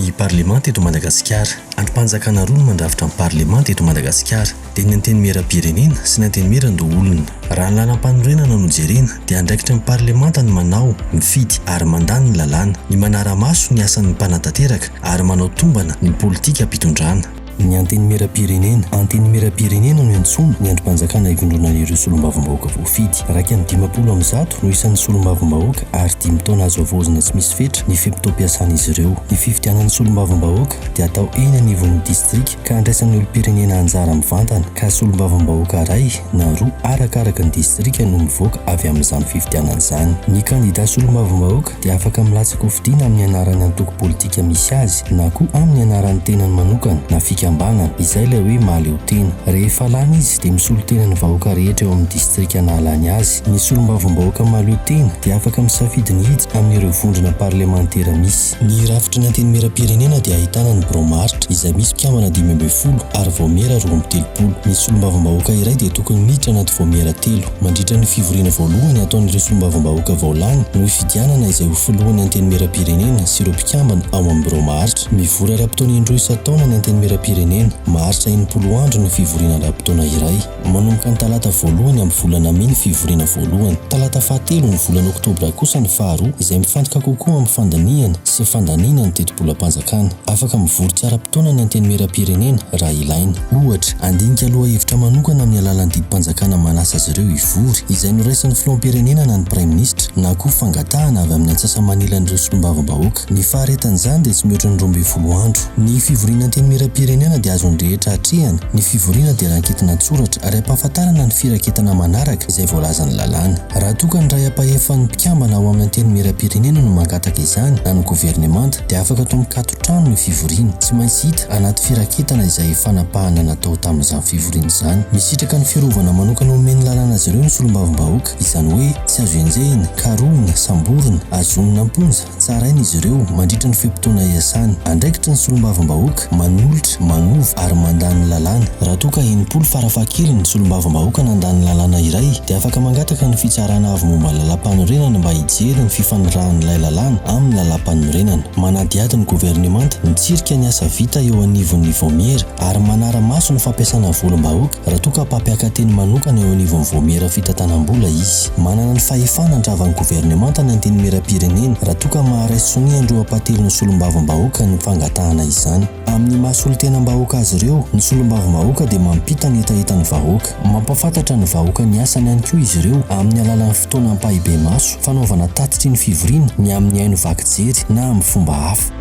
Ny parlemanta eto Madagasikara. Andrim-panjakana roa no mandrafitra ny parlemanta eto Madagasikara. dia ny Antenimierampirenena sy ny Antenimierandoholona. Raha ny lalam-panorenana no jerena dia andraikitry ny Parlemanta ny manao, mifidy ary mandà ny lalàna, ny manara-maso ny asan'ny mpanatanteraka ary manao tombana ny politikam-pitondrana. Ny Antenimierampirenena. Antenimierampirenena no iantsoana ny andrim-panjakana ivondronan'ireo solombavambahoaka voafidy. Iraika amby dimampolo amin'ny zato no isan'ny solombavambahoaka ary dimy taona azo havaozina tsy misy fetra ny fe-potoam-piasan'izy ireo. Ny fifidianan'ny solombavambahoaka dia atao eny anivon'ny distrika. ka andraisan'ny olom-pirenena anjara mivantana ka solombavambahoaka iray na roa arakaraka ny distrika no mivoaka avy amin'izany fifidianana izany. Ny kandida solombavambahoaka dia afaka milatsaka ho fidiana amin'ny anaran'ny antoko politika misy azy na koa amin'ny anaran'ny tenany manokana na fikambanana, izay ilay hoe mahaleo tena. Rehefa lany izy dia misolo tena ny vahoaka rehetra eo amin'ny distrika nahalany azy. Ny solombavambahoaka mahaleo tena dia afaka misafidy ny hiditra amin'ireo vondrona parlemantera misy. Ny rafitry ny Antenimierampirenena dia ahitana ny Biraon'ny Maharitra izay misy mpikambana dimy ambin'ny folo ary Vaomiera roa amby telopolo. Ny Solombavambahoaka iray dia tokony miditra anaty Vaomiera telo. Mandritra ny fivoriana voalohany ataon'ireo Solombavambahoaka vao lany no hifidianana izay ho Filohan'ny Antenimierampirenena sy ireo mpikambana ao amin'ny Birao Maharitra. Mivory ara-potoana indroa isan-taona ny Antenimierampirenena. Maharitra enimpolo andro ny fivoriana ara-potoana iray. Manomboka ny talata voalohany amin'ny volana mey ny fivoriana voalohany. Talata fahatelo ny volana oktobra kosa ny faharoa, izay mifantoka kokoa amin'ny fandinihana sy fandaniana ny tetibolam-panjakana. Afaka mivory tsy ara-potoana ny Antenimierampirenena raha ilaina. Ohatra, handinika lohahevitra manokana amin'ny alalan'ny didim-panjakana manasa azy ireo hivory, izay noraisin'ny filoham-pirenena na ny praiminisitra, na koa fangatahana avy amin'ny antsasa-manilan'ireo solombavambahoaka. Ny faharetan'izany dia tsy mihoatra ny roa ambin'ny folo andro. Ny fivoriana Antenimierampirenena dia azon'ny rehetra atrehina, ny fivoriana dia ranketina an-tsoratra ary ampahafantarana ny firaketana manaraka izay voalazan'ny lalàna. Raha toa ka ny iray ampahefan'ny mpikambana ao amin'ny Antenimierampirenena no mangataka izany na ny governemanta dia afaka atao mikato trano ny fivoriana. Tsy maintsy hita anaty firaketana izay fanapahana natao tamin'izany fivoriana izany. Misitraka ny fiarovana manokana omen'ny lalàna azy ireo ny solombavambahoaka, izany hoe tsy azo enjehina, karohina, samborina, azonina am-ponja, Tsaraina izy ireo mandritra ny fe-potoana iasany. Andraikitry ny solombavambahoaka manolotra, manova ary mandà ny lalàna. Raha toa ka enimpolo farafahakeliny ny solombavambahoaka nandà ny lalàna iray dia afaka mangataka ny Fitsarana Avo Momba ny Lalàmpanorenana mba hijery ny fifanirahan'ilay lalàna amin'ny lalàmpanorenana. Manadihady ny governemanta mitsirika ny asa vita eo anivon'ny Vaomiera ary manara-maso ny fampiasana volam-bahoaka. Raha toa ka mpampiaka-teny manokana eo anivon'ny Vaomiera Fitantanam-bola izy, manana ny fahefana handrava ny governemanta ny Antenimierampirenena raha toa ka maharesy sonia an-dRoampatelo ny Solombavambahoaka ny fangatahana izany. Amin'ny maha solontenam-bahoaka azy ireo, ny Solombavambahoaka dia mampita ny hetahetan'ny vahoaka. Mampahafantatra ny vahoaka ny asany ihany koa izy ireo amin'ny alalan'ny fotoana ampahibemaso fanaovana tatitry ny fivoriana ny amin'ny haino vaky jery na amin'ny fomba hafa.